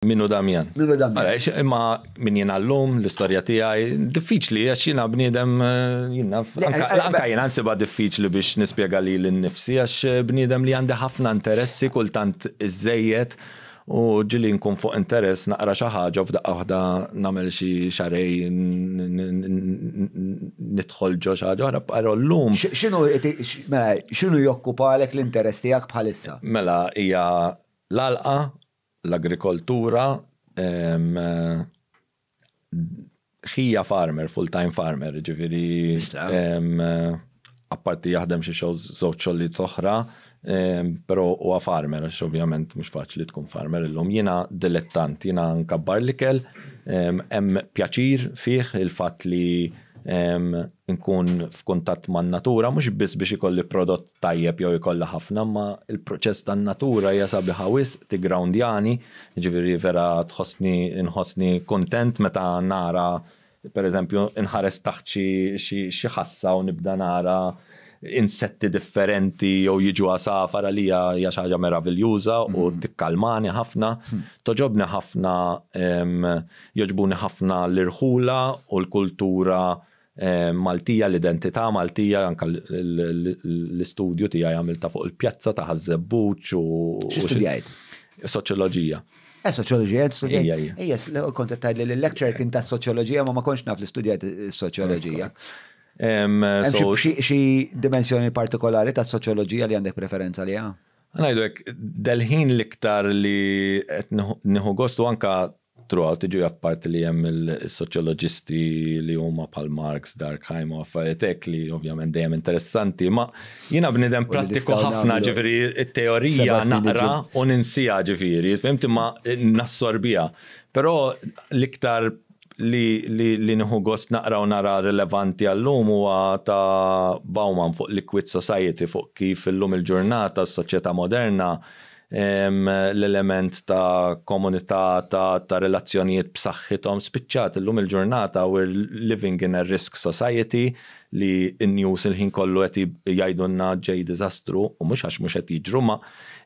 Min hu Damjan? Min hu Damjan? Għaliex imma min jiena llum l-istorja tiegħi diffiċli għax jiena bniedem eh, jiena anka jiena nsibha diffiċli biex nispjega li l-nifsi għax eh, bniedem li għandi ħafna interessi kultant iżejjed u ġili nkun fuq interess naqra xi ħaġa f'daqqa waħda nagħmel xi xarej nidħol ġo xi ħaġa oħra però llum. X'inhu x'inhu jokkupalek l-interess tiegħek bħalissa? Mela hija l-alqa l-agrikoltura ħija farmer, full-time farmer, ġifiri. Apparti jaħdem xi xogħol żewġ xogħlijiet oħra, però huwa farmer, għax ovvjament mhux faċli tkun farmer illum. Jiena dilettant, jiena nkabbar l-ikel, hemm pjaċir fih il-fatt li nkun f'kuntatt man-natura, mhux biss biex ikolli prodott tajjeb jew ikollha ħafna imma l-proċess tan-natura hija sabiħa wisq tigrawndjani, jiġifieri vera tħossni nħossni kuntent meta nara pereżempju nħares taħt xi xi xi ħassa u nibda nara insetti differenti jew jiġu għasafar għalija hija xi ħaġa meraviljuża u tikkalmani ħafna. Toġobni ħafna jogħġbuni ħafna l-irħula u l-kultura Maltija, l-identità Maltija, anke l-istudju tiegħi għamiltha fuq il-pjazza ta' Ħaż-Żebbuġ u. X'istudjajt? Soċjoloġija. Eh, soċjoloġija, studjajt. Ejja, kont qed tgħidli li l-lecture kien ta' soċjoloġija ma ma kontx naf li studjajt is-soċjoloġija. Xi dimensjoni partikolari ta' soċjoloġija li għandek preferenza li għandha? Ngħidu hekk, delħin l-iktar li qed nieħu gostu anke Throughout iġu jaf parti li hemm is-soċjoloġisti li huma bħal Marx, Durkheim u affarijiet hekk li ovvjament dejjem interessanti, ma jiena bniedem prattiku ħafna ġifieri t-teorija naqra u ninsiha ġifieri, fimti ma nassorbiha. Però l-iktar li nieħu gost naqra u nara rilevanti għallum huwa ta' Bauman fuq liquid society fuq kif illum il-ġurnata s-soċjetà moderna L-element ta' komunità, ta' relazzjonijiet b'saħħithom spiċċat. Illum il-ġurnata we're living in a risk society li n-news il-ħin kollu qed jgħidulna ġej diżastru u mhux għax mhux qed jiġru imma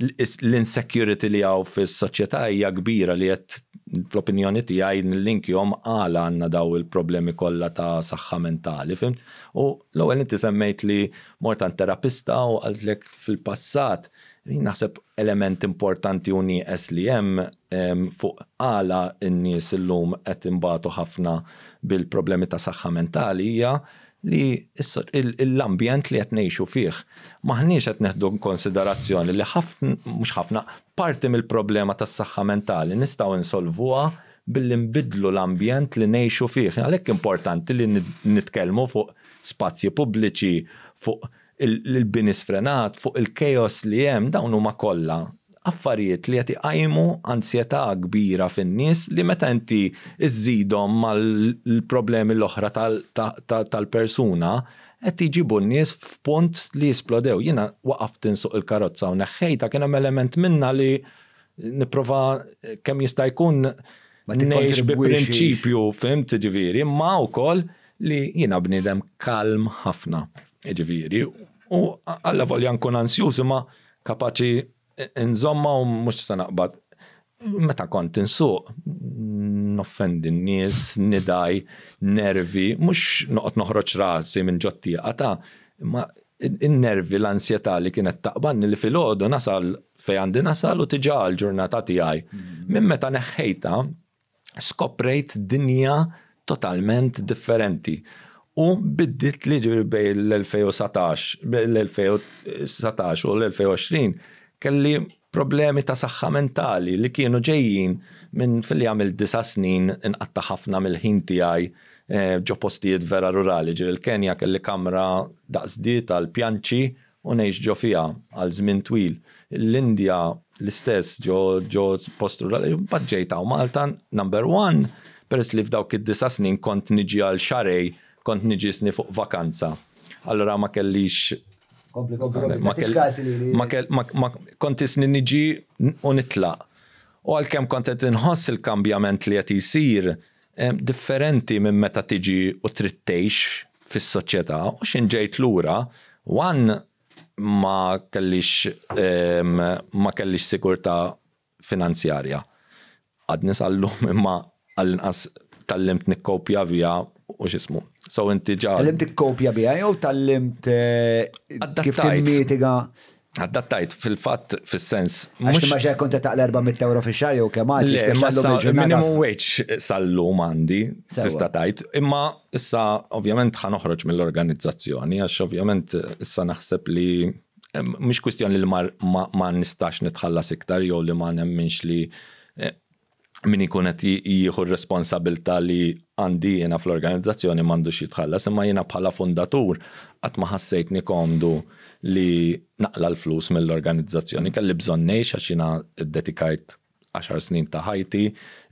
l-insecurity li hawn fis-soċjetà hija kbira li qed fl-opinjoni tiegħi nillinkjhom għala għandna dawn il-problemi kollha ta' saħħa mentali, fhimt? U l-ewwel inti semmejt li mort għand terapista u qaltlek fil-passat Jien naħseb element importanti u nieqes li hemm fuq għala n-nies illum qed imbagħtu ħafna bil-problemi ta' saħħa mentali hija li l-ambjent li qed ngħixu fih. M'aħniex qed neħdu inkonsiderazzjoni li mhux ħafna, parti mill-problema tas-saħħa mentali nistgħu nsolvuha billi nbiddlu l-ambjent li ngħixu fih. Għalhekk importanti li nitkellmu fuq spazji pubbliċi, fuq l-bini sfrenat, fuq il-chaos li hemm, dawn huma kollha affarijiet li qed iqajmu ansjetà kbira fin-nies li meta inti żżidhom mal-problemi l-oħra tal-persuna qed jġibu n-nies f'punt li jisplodew. Jiena waqaft insuq il-karozza u neħħejtha kien hemm element minnha li nipprova kemm jista' jkun ngħix bi prinċipju, fimt, ġifieri, imma wkoll li jiena bniedem kalm ħafna, jiġifieri, u alla volja nkun ansjuż imma kapaċi nżomma u mhux se naqbad. Meta kont insuq, noffendi n-nies, nidaj, nervi, mhux noqgħod noħroġ rasi minn ġottieqa ta' imma n-nervi l-ansjetà li kienet taqbanni li filgħodu nasal fejn għandi nasal u tiġa l-ġurnata tiegħi. Minn meta neħħejta, skoprejt dinja totalment differenti u bidditli ġifieri bejn l-2019 l-2019 u l-2020 kelli problemi ta' saħħa mentali li kienu ġejjin minn filli għamilt disa' snin inqatta' ħafna mill-ħin tiegħi ġo postijiet vera rurali ġifieri l-Kenja kelli kamra daqs di tal-pjanċi u ngħix ġo fiha għal żmien twil, l-Indja l-istess ġo ġo post rurali, imbagħad ġejt hawn Malta, number one, peress li f'dawk id-disa' snin kont niġi għal xahrejn, kont niġi sni fuq vakanza. Allura ma kellix. Kompli, kompli, kompli, ma kellix każi li li. Ma kell, ma, ma, kont isni niġi u nitlaq. U għalkemm kont qed inħoss il-kambjament li qed jsir, differenti minn meta tiġi u trid tgħix fis-soċjetà u x'in ġejt lura one ma kellix ehm, ma kellix sigurtà finanzjarja. Għadni sal-lum imma għall-inqas tallimt nikkopja vija u x'ismu. So inti ġa. Tallimt tikkopja biha jew tallimt eh, kif Adattajt. timmitiga Adattajt fil-fatt fis-sens. Mhux Mhux ma xejn kont qed taqla 400 euro fi xahar jew kemm għad li Le, imma speċjallu issa bil-ġurnata. minimum wage sal-lum għandi, Sewwa. tista' tajt, imma issa ovvjament ħa noħroġ mill-organizzazzjoni, għax ovvjament issa naħseb li eh, mhix kwistjoni li ma, ma, ma nistax nitħallas iktar jew li ma nemminx li eh, min ikun qed jieħu r-responsabilità li għandi jiena fl-organizzazzjoni m'għandux jitħallas, imma jiena bħala fundatur qatt ma ħassejtni komdu li naqla l-flus mill-organizzazzjoni. Kelli bżonn ngħix għax jiena ddedikajt 10 snin ta' ħajti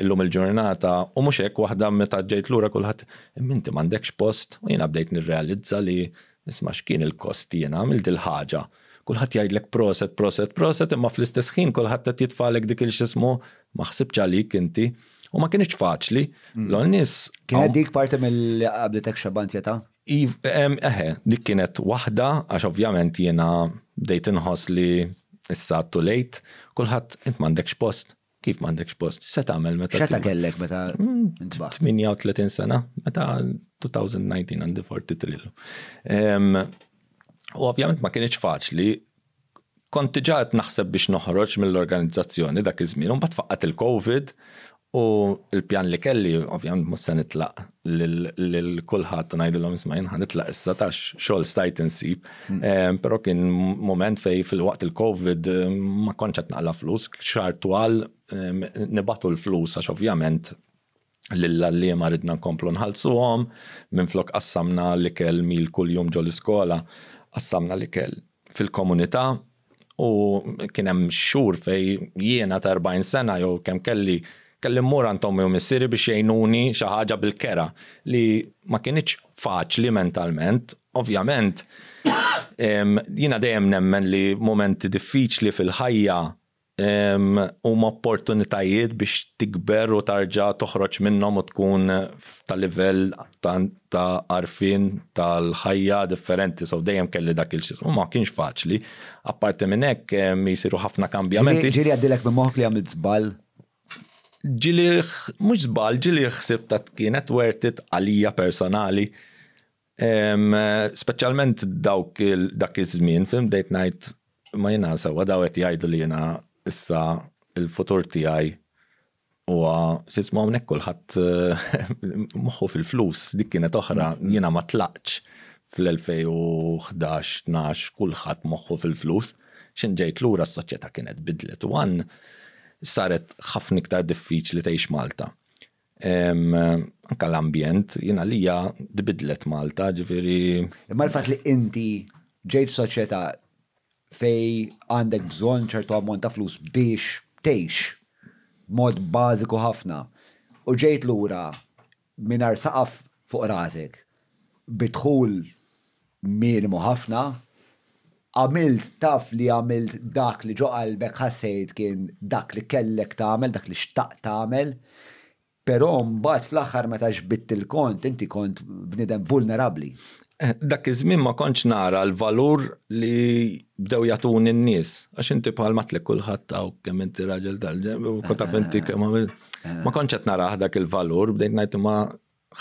illum il-ġurnata u mhux hekk waħda meta ġejt lura kulħadd minti m'għandekx post u jiena bdejt nirrealizza li Isma' x'kien il-kost li jien għamilt dil-ħaġa. Kulħadd jgħidlek proset, proset, proset imma fl-istess ħin kulħadd qed jitfagħlek dik il-x'ismu, ma ħsibtx għalik inti. U ma kinitx faċli. L-għol nies. Kienet dik parti mill-li qabdiltek xebba antjetà? Iv, eħe, dik kienet waħda għax ovvjament jiena bdejt inħoss li issa too late. Kulħadd, int m'għandekx post. Kif m'għandekx post? Se tagħmel meta. Xeta kellek meta mm, ntbaħ? 38 sena, meta 2019 għandi 43. U ovvjament ma kienx faċli kont diġà qed naħseb biex noħroġ mill-organizzazzjoni dak iż-żmien, u mbagħad faqqat il-COVID u l-pjan li kelli ovvjament mhux se nitlaq lil kulħadd u ngħidilhom isma' jien ħanitlaq issa tax xogħol stajt insib. Mm. Però kien mument fej fil-waqt il-COVID ma kontx qed naqla flus, xar twal nibatu l-flus għax ovvjament lill-għalliema ridna nkomplu nħallsuhom, minn flok qassamna l-ikel mil kuljum ġol-iskola, qassamna l-ikel fil-komunità, U kien hemm xhur fej jiena ta' 40 sena jew kemm kelli kelli mmur għand ommi u missieri biex jgħinuni xi ħaġa bil-kera li ma kinitx faċli mentalment. Ovvjament jiena dejjem nemmen li mumenti diffiċli fil-ħajja huma opportunitajiet biex tikber u tarġa' toħroġ minnhom u tkun ta' livell tant ta' għarfien tal-ħajja differenti, so dejjem kelli dak il u ma kienx faċli. Apparti minn hekk jisiru ħafna kambjamenti. Ġili għaddilek minn moħħok li għamilt żball? Ġili mhux żball, ġili ħsib ta' kienet worth it għalija personali. Speċjalment dawk dak iż-żmien, film dejt ngħid ma jiena sewa daw qed jgħidu li jiena issa il-futur tiegħi Huwa tisma' hawnhekk kulħadd moħħu fil-flus, dik kienet oħra, jiena ma tlaqtx fl-2011, 12 kulħadd moħħu fil-flus. X'in ġejt lura s-soċjetà kienet bidlet u għan saret ħafna iktar diffiċli tgħix Malta. Anke l-ambjent, jien għalija tbidlet Malta, ġifieri. Imma l-fatt li inti ġejt f'soċjetà fejn għandek bżonn ċertu ammont ta' flus biex tgħix b'mod bażiku ħafna u ġejt lura mingħajr saqaf fuq rasek bi dħul minimu ħafna, għamilt, taf li għamilt dak li ġo qalbek ħassejt kien dak li kellek tagħmel, dak li xtaqt tagħmel. Però mbagħad fl-aħħar meta xbidt il-kont, inti kont bniedem vulnerabbli. Dak iż-żmien ma kontx nara l-valur li bdew jagħtuni n-nies. Għax inti bħal matlek kulħadd hawn kemm inti raġel tal-ġenb u kont taf inti kemm għamil. Ma kontx qed narah dak il-valur, bdejt ngħid imma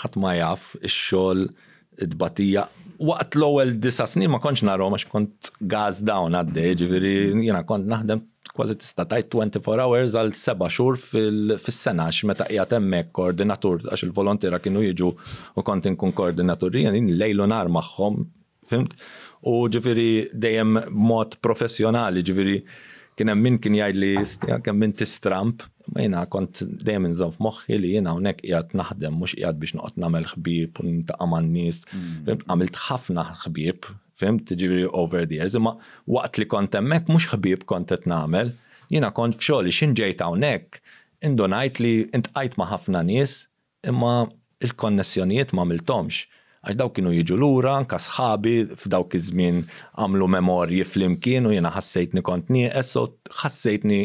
ħadd ma jaf ix-xogħol it-tbatija. Waqt l-ewwel disa' snin ma kontx narhom għax kont gas down għaddej, ġifieri jiena kont naħdem kważi tista' tgħid 24 hours għal seba' xhur fis-sena għax meta qiegħed hemmhekk koordinatur għax il-volontiera kienu jiġu u kont inkun koordinatur jien lejl u nhar magħhom, fimt? U ġifieri dejjem b'mod professjonali, ġifieri Kien hemm min kien jgħid li stja kemm inti stramp, ma jiena kont dejjem inżomm f'moħħi li jiena hawnhekk qiegħed naħdem mhux qiegħed biex noqgħod nagħmel ħbieb u nintaqa' man-nies. Mm. Għamilt ħafna ħbieb, fimt, ġifieri over the years, imma waqt li kont hemmhekk mhux ħbieb kont qed nagħmel, jiena kont f'xogħli x'inġejt hawnhekk indunajt li intqajt ma' ħafna nies Imma l-konnessjonijiet ma għamilthomx, għax dawk kienu jiġu lura, anke sħabi f'dawk iż-żmien għamlu memorji flimkien u jiena ħassejtni kont nieqes, so ħassejtni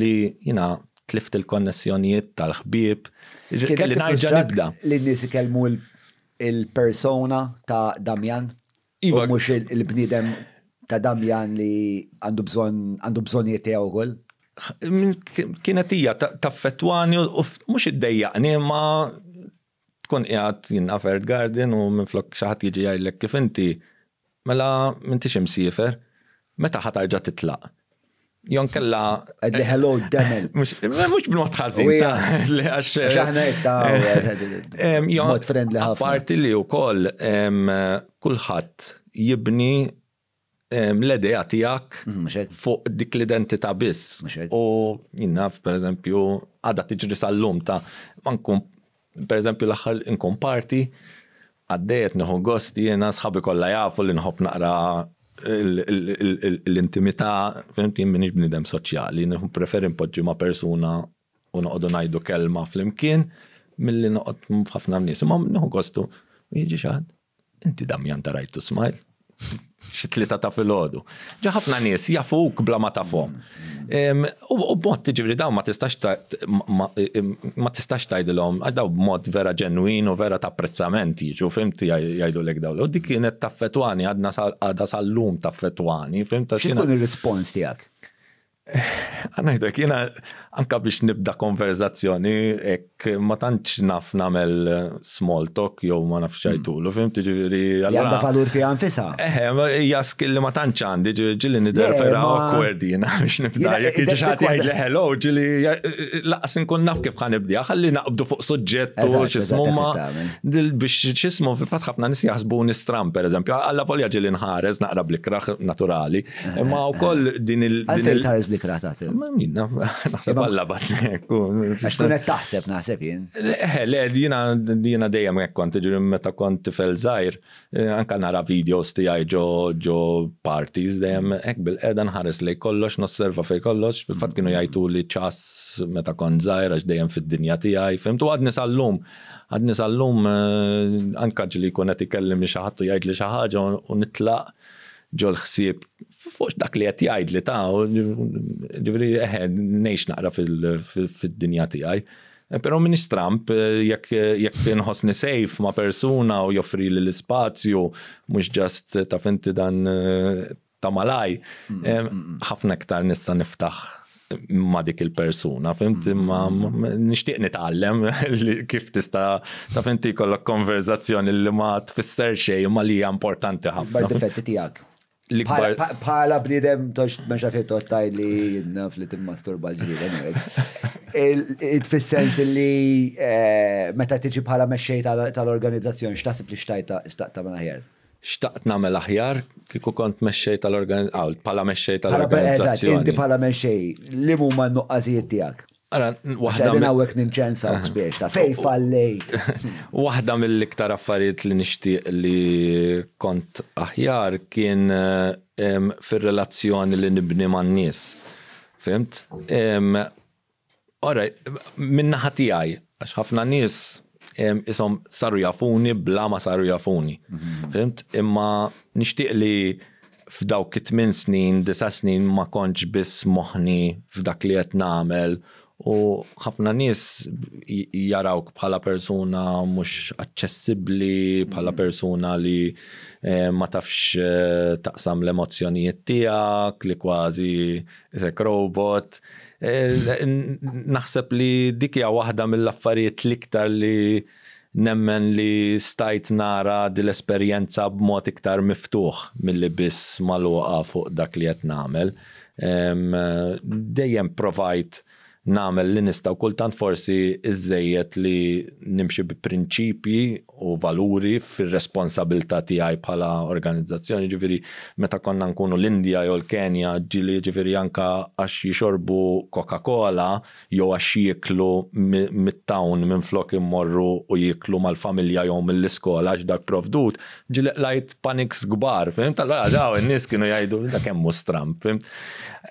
li jiena tlift il-konnessjonijiet tal-ħbieb, kelli nerġa' nibda. Kienet tiffrustrah li n-nies ikellmu l-persona ta' Damian? Iva. U mhux il-bniedem ta' Damjan li għandu bżonn għandu bżonnijiet tiegħu wkoll? Kienet hija taffettwani u mhux iddejjaqni ma tkun qiegħed jien Afert Garden u minflok xi ħadd jiġi jgħidlek kif inti mela m'intix imsiefer, meta ħa tarġa' titlaq? Jon kella. Għedli hello demel. Mux b'mod ħazin. Xaħna jetta. Mod friendly ħafna. Parti li u koll kullħat jibni l-edeja tijak mm, fuq dik l-identita biss. U jinnaf, per eżempju, għada tiġri sal-lum ta' mankun Per eżempju l-aħħar inkun party, għaddejjet nieħu gost jiena sħabi kollha jafu li nħobb naqra l-intimità, fim jien m'iniex bniedem soċjali, preferi npoġġi ma' persuna u noqogħdu ngħidu kelma flimkien milli noqgħod ħafna nies. Imma nieħu gostu, jiġi xi ħadd. Inti Damjan ta' rajtu smajl? Xi tlieta ta' filgħodu. Ġa ħafna nies jafuk bla ma tafhom. U b'mod tiġifieri dawn ma tistax ma tistax tgħidilhom għax dawn b'mod vera ġenwin u vera ta' apprezzament jiġu fimt jgħidulek dawn. U dik kienet taffetwani għadna għadha sal-lum taffetwani fimt. X'inhu l-rispons tiegħek? Għanajdek, jena anka biex nibda konverzazzjoni, ek ma tantx naf namel small talk, jow ma nafx ċajtulu, fim tiġiri. Għanda valur fi għanfisa. Eħe, hija skill li ma tantx għandi, ġili nider vera awkward jena biex nibda. Jek iġi ħat jgħid li hello, ġili laqas nkun naf kif ħan nibda, ħalli naqbdu fuq suġġett u xismu ma biex xismu fil-fat ħafna nis jaħsbu nistram, per eżempju, għalla volja ġili nħares, naqra blikra naturali. Imma u koll din il- Għalfejn tħares blik ratat. Ma minna, naħseb għalla bat Għax kunet taħseb naħseb jien. Eh, le, jina jina dejjem hekk kont ġiri meta kont tifel żgħir, eh, anka nara videos tiegħi ġo ġo parties dejjem hekk bil-qeda nħares lej kollox, nosserva fej kollox, fil-fatt kienu jajtu li ċas meta kont żgħir għax dejjem fid-dinja tiegħi, fimtu għadni sal-lum għadni sal-lum eh, anka ġili kunet ikellim li xaħat u jgħid li xaħġa u nitlaq ġol-ħsieb fuq dak li qed jgħid li ta' ġifieri eħe ngħix naqra fid-dinja tiegħi. Eh, però minix Trump, eh, jekk eh, jekk inħossni safe ma' persuna u joffri li l-ispazju, mhux ġast ta' finti dan ta' malaj, mm, mm, mm. ħafna iktar nista' niftaħ ma dik il-persuna, fimt imma nixtieq nitgħallem kif tista' ta' finti kollok konverzazzjoni li ma tfisser xejn ma li hija importanti ħafna. Bar difetti tiegħek. Bħala bniedem tox mexa fi tottaj li naf li timmasturba l-ġlied. Tfissens li eh, meta tiġi bħala mexxej tal-organizzazzjoni x'taħseb li xtajta xtaqta minn aħjar. Xtaqt nagħmel aħjar kieku kont mexxej tal-organizzazzjoni, bħala mexxej tal-organizzazzjoni. Inti bħala mexxej, li huma n-nuqqasijiet tiegħek? Waħda minn hawnhekk ninċensa biex ta' fej fallejt. Waħda mill-iktar affarijiet li nixtieq li kont aħjar kien fir-relazzjoni li nibni man-nies. Fimt? Ora, minn naħa tiegħi, għax ħafna nies isom saru jafuni bla ma saru jafuni. Mhm. Fimt? Imma nixtieq li f'dawk it-tmin snin, disa snin ma kontx biss moħni f'dak li qed nagħmel u ħafna nies jarawk bħala persuna mhux aċċessibbli, bħala mhm. persuna li eh, ma tafx eh, taqsam l-emozzjonijiet tiegħek, li kważi Isek robot. Eh, naħseb li dik hija waħda mill-affarijiet l-iktar li nemmen li stajt nara dil-esperjenza b'mod iktar miftuħ mill-li biss maluqa fuq dak li qed nagħmel. Dejjem provajt nagħmel li nista' u kultant forsi iżżejjed li nimxi bi prinċipji u valuri fir-responsabilità tiegħi bħala organizzazzjoni, ġifieri meta konna nkunu l-Indja jew l-Kenja, ġieli ġifieri anke għax jixorbu Coca-Cola jew għax jieklu mit-town minflok imorru u jieklu mal-familja jew mill-iskola għax dak provdut, Ġileq lajt paniks kbar, fimt? Allora daw in-nies kienu jgħidu da kemm hu stram, fimt?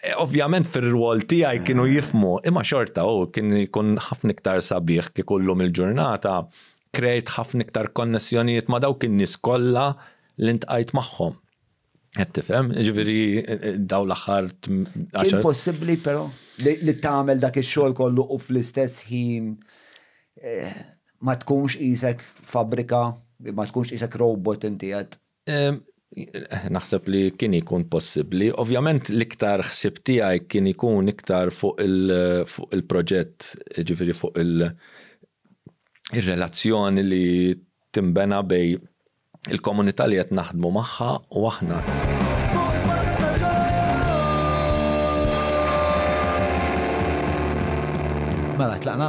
E, ovvjament fir-rwol tiegħi kienu jifmu, imma xorta u kien jkun ħafna iktar sabiħ kif kullum il-ġurnata krejt ħafna iktar konnessjonijiet ma' dawk in-nies kollha li ntqajt magħhom. Qed tifhem, ġifieri daw l-aħħar. Kien possibbli però li tagħmel dak ix-xogħol kollu u fl-istess ħin eh, ma tkunx isek fabrika, ma tkunx isek robot inti qed. Naħseb li kien ikun possibbli. Ovvjament l-iktar ħsib tiegħi kien ikun iktar fuq il-proġett, ġifieri fuq il-relazzjoni li timbena bej Il-komunità li qed naħdmu magħha u aħna. Mela, tlaqna?